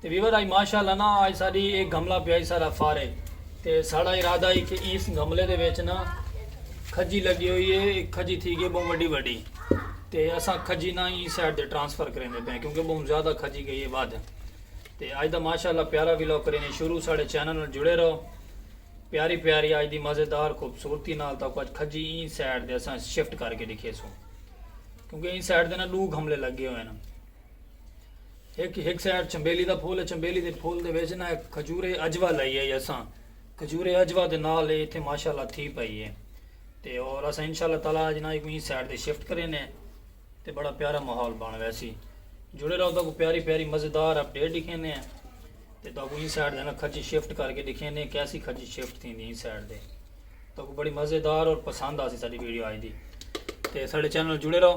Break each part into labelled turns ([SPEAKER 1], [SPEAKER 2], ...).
[SPEAKER 1] تے ویور آئی ماشاء اللہ نا آج ساڑی ایک گھملہ پیائی سارا فارے تے ساڑا ارادہ ہی کہ اس گھملے دے ویچ نا کھجی لگی ہوئی ہے ایک کھجی تھی گئے بہن وڈی وڈی تے اساں کھجی نا ہی سیڈ دے ٹرانسفر کریں دے پہن کیونکہ بہن زیادہ کھجی گئی ہے بات تے آج دا ماشاء اللہ پیارا ویلو کریں دے شروع ساڑے چینل نال جڑے رہو پیاری پیاری آج دی مزیدار خوبصورتی نال تاکہ آج کھجی ہی سیڈ دے اساں شفٹ کر کے دکھے سوں کیونکہ ہی سیڈ دے نا لوگ گھملے لگے ہوئے ہیں ہک ہک سائیڈ چنبیلی دا پھول ہے چنبیلی دے پھول دے وچ نا کھجور اجوا لائی ہے اساں کھجور اجوا دے نال ہے ایتھے ماشاءاللہ تھی پئی ہے تے اور اساں انشاءاللہ تعالی اج نا کوئی سائیڈ تے شفٹ کرے نے تے بڑا پیارا ماحول بن ویسی جڑے رہو تو پیاری پیاری مزیدار اپ ڈیٹ دکھے نے تے تو کوئی سائیڈ دے نا کھجی شفٹ کر کے دکھے نے کیسی کھجی شفٹ تھی دی سائیڈ دے تو بڑی مزیدار اور پسند آسی ساری ویڈیو آئی دی تے سارے چینل جڑے رہو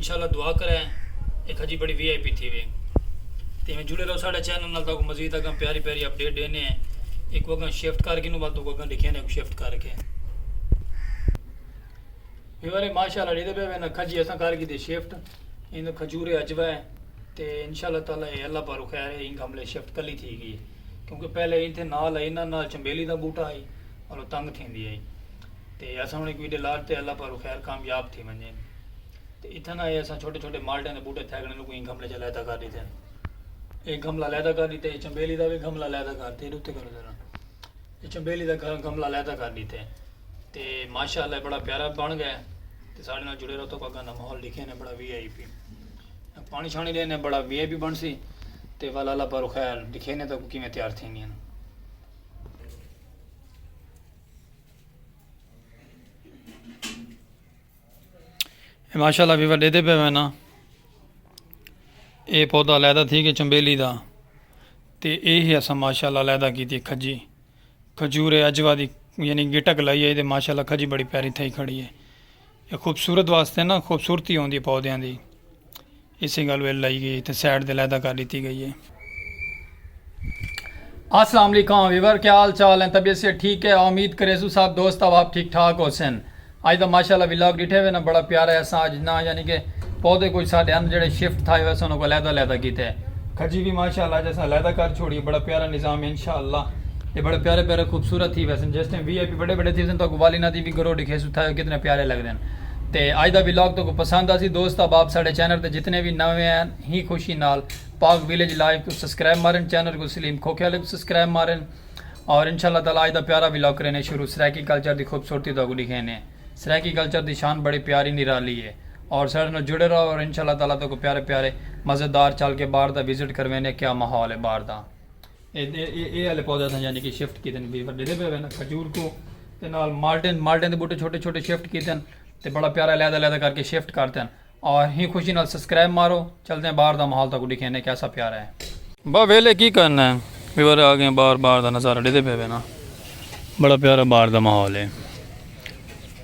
[SPEAKER 1] انشاءاللہ دعا کرے اے کھجی بڑی وی آئی پی تھیوے تے ایویں جڑے رہو ساڈے چینل نال تاکو مزید اگاں پیاری پیاری اپ ڈیٹ ڈینے ہیں ایکو اگاں شفٹ کر گھنوں ول تاکو اگاں ڈکھیاں نے کو شفٹ کر کے ویورے ماشاءاللہ ڈیدے پے وینا کھجی اساں کر گی دے شفٹ اینو کھجورے اجوا ہے تے انشاءاللہ تعالی اے اللہ پارو خیر ہے انگ حملے شفٹ کلی تھی گئی کیونکہ پہلے اینتھے نال اینا نال چمبیلی دا بوٹا ہے اور تنگ تھیندی ہے تے اساں ہن ہک ویڈے لاٹ تے اللہ پاروں خیر کامیاب تھی ونجین تے اتھاں نا اے اساں چھوٹے چھوٹے مالٹیاں دے بوٹے تھے گنے نو کوئی گھملے چا لیدا کر دیتے اے گھملا لیدا کر دیتے اے چمبیلی دا وی گھملا لیدا کر دیتے اتے کرو ذرا اے چمبیلی دا گھملا لیدا کر دیتے تے ماشاءاللہ بڑا پیارا بن گئے تے ساڈے نال جڑے رہو تو اگاں دا ماحول لکھے نے بڑا وی آئی پی پانی شانی دے نے بڑا وی آئی پی بن سی تے والا اللہ پاروں خیر لکھے نے تو کیویں تیار تھیندیاں ماشاء اللہ ویور ڈے دے پہ میں نا اے پودا لیدا تھی کہ چمبیلی دا تے اے ہی اسا ماشاء اللہ لیدا کی تھی کھجی کھجور اجوا دی یعنی گٹک لائی ہے تے ماشاء اللہ کھجی بڑی پیاری تھائی کھڑی ہے یہ خوبصورت واسطے نا خوبصورتی ہوندی پودیاں دی اسے گل ویل لائی گئی تے سائٹ دے علیحدہ کر ڈیتی گئی ہے۔ السلام علیکم ویور کیا حال چال ہیں طبیعت صحت ٹھیک ہے آامید کریسوں سب دوست احباب ٹھیک ٹھاک ہوسن اج دا ماشاءاللہ ولاگ ڈیٹھے وے نا بڑا پیارا ہے اساں اج نا یعنی کہ پودے کچھ ساڈے اند جڑے شفٹ تھائے ہوئے اساں انہاں کو علیحدہ علیحدہ کیتے کھجی بھی ماشاءاللہ اج اساں علیحدہ کر چھوڑی بڑا پیارا نظام ہے انشاءاللہ اے بڑے پیارے پیارے خوبصورت تھی ویسن جس ٹائم وی آئی پی بڑے بڑے تھی ویسن تو کو والی نا دی بھی گرو ڈکھیسو تھائے کتنے پیارے لگدن تے اج دا ولاگ تہاکوں پسند آسی دوست احباب ساڈے چینل تے جتنے وی نویں آئے ہیں خوشی نال پاک ویلیج لائیو کوں سبسکرائب مارن چینل کوں سلیم کھوکھے والے کوں سبسکرائب مارن اور انشاء اللہ تعالی اج دا پیارا ولاگ کرینے شروع سرائیکی کلچر دی خوبصورتی تہاکوں ڈکھینے سرائیکی کلچر دی شان بڑی پیاری نرالی ہے اور ساڈے نال جڑے رہو اور انشاء اللہ تعالی تہاکوں پیارے پیارے مزیدار چل کے باہر دا وزٹ کروینے کیا ماحول ہے باہر دا۔ اے آلے پودے اساں یعنی کہ شفٹ کیتے نے ڈیندے پے وین کھجور کو تے نال مالٹن مالٹن دے بوٹے چھوٹے چھوٹے شفٹ کیتے نے تے بڑا پیارا علیحدہ علیحدہ کر کے شفٹ کرتے ہیں اور ہی خوشی نال سبسکرائب مارو چلتے ہیں باہر دا ماحول تاکو دکھے نے کیسا پیارا ہے با ویلے کی کرنا ہے ویور آگے باہر باہر دا نظارہ ڈیندے پے وین بڑا پیارا باہر دا ماحول ہے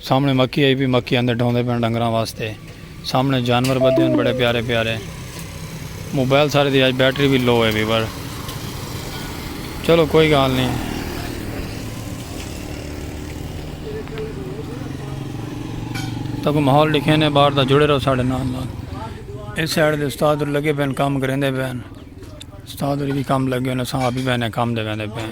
[SPEAKER 1] سامنے مکھی آئی پی مکھی آندے ڈھوندے پین ڈنگراں واسطے سامنے جانور بدے ہن بڑے پیارے پیارے موبائل سارے دی آج بیٹری بھی لو ہے ویور چلو کوئی گال نہیں تاکہ ماحول لکھے نے باہر دا جڑے رہو ساڑھے نال نال اس سائڈ دے استاد اور لگے پین کام کریں دے پین استاد اور بھی کام لگے انہیں ساں آپ ہی پین کام دے پین دے پین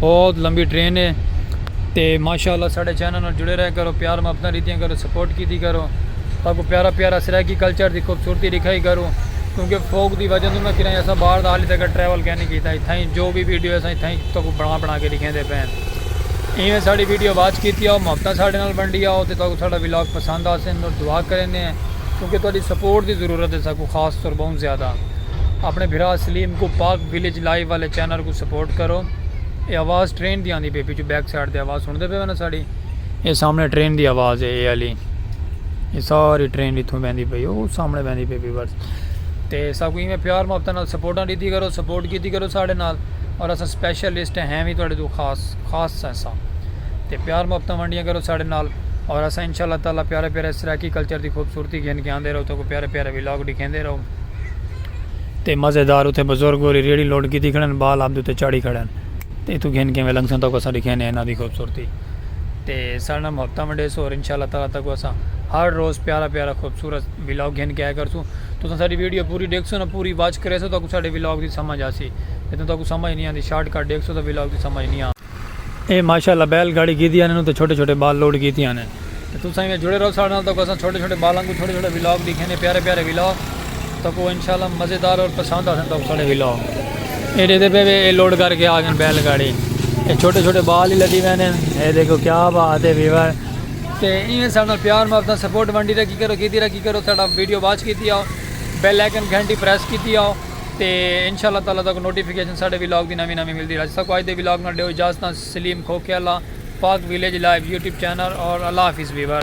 [SPEAKER 1] بہت لمبی ٹرین ہے تے ماشاءاللہ ساڑے چینل نال جڑے رہے کرو پیار محبتاں ڈتیاں کرو سپورٹ کیتی کرو تاکو پیارا پیارا سرائیکی کلچر دی خوبصورتی دکھائی کرو کیونکہ فوگ دی وجہ نہ کریں ایسا باہر دا حالی تک ٹریول کہنے کیتا ہے تھائیں جو بھی ویڈیو ہے سائیں تھائیں تاکو بنا بنا کے دکھیں دے پہ ہیں ایویں ساڑی ویڈیو واچ کیتی آؤ محبتاں ساڑے نال بنڈی آؤ تے تاکو ساڑا ویلاگ پسند آسے انہوں دعا کریں دے ہیں کیونکہ تہاڈی سپورٹ دی ضرورت ہے ساکو خاص طور بہت زیادہ اپنے بھرا سلیم کو پاک ویلیج لائیو والے چینل کوں سپورٹ کرو۔ اے آواز ٹرین دی آندی پئی ہے پچھوں بیک سائیڈ تے آواز سنڑدے پئے ہو نا ساڈی۔ اے سامنے ٹرین دی آواز ہے اے آلی۔ اے ساری ٹرین اتھوں ویندی پئی ہے او سامنے ویندی پئی ہے ویورز۔ تے ساکوں ایویں پیار محبت نال سپورٹاں ڈیتی کرو سپورٹ کیتی کرو ساڈے نال۔ اور اساں سپیشلسٹ ہیں وی تہاڈے توں خاص خاص اساں۔ تے پیار محبت ونڈیاں کرو ساڈے نال۔ اور اساں ان شاء اللہ تعالی پیارے پیارے سرائیکی کلچر دی خوبصورتی گھن کے آندے رہوں تہاکوں پیارے پیارے ولاگ ڈکھیندے رہوں۔ تے مزیدار اتھے بزرگ ہوری ریڑھی لٹ کیتی کھڑے ہن بال آبدے اتے چاڑھی کھڑے ہن تے اتھوں گھن کیویں لنگسوں تاکوں اساں ڈکھینے ہن انہاں دی خوبصورتی تے ساڈے نال محبتاں ونڈیسو اور انشاءاللہ تعالی تاکوں اساں ہر روز پیارا پیارا خوبصورت ولاگ گھن کے آیا کرسوں تساں ساڈی ویڈیو پوری ڈیکھسو نا پوری واچ کریسو تاکوں ساڈے ولاگ دی سمجھ آسی جدوں تاکوں سمجھ نی آندی شارٹ کٹ ڈیکھسو تاں ولاگ دی سمجھ نی آ۔ اے ماشاء اللہ بیل گاڑی گھیدی آنے نو تے چھوٹے چھوٹے بال لوڈ کیتی آنے۔ تے تساں ایویں جڑے رہو ساڈے نال تاکو اساں چھوٹے چھوٹے بال آنگوں چھوٹے چھوٹے ولاگ ڈیکھیندے پیارے پیارے ولاگ تاکو انشاء اللہ مزیدار اور پسند آسن تاکو ساڈے ولاگ اے ڈیدے پے وے اے لوڈ کر کے آ گن بیل گاڑی اے چھوٹے چھوٹے بال ہی لدی وینے اے دیکھو کیا بات اے ویور تے ایویں ساڈے نال پیار محبت سپورٹ ونڈی رکھی کرو کیتی رکھی کرو ساڈا ویڈیو واچ کیتی آو بیل آئیکن گھنٹی پریس کیتی آو تے انشاء اللہ تعالی تہاکوں نوٹیفکیشن ساڈے ولاگ دی نویں نویں ملدی رہسی ساکوں اج دے ولاگ نال ڈیو اجازتاں Saleem Khokhiala Pak village live YouTube channel اور اللہ حافظ ویور۔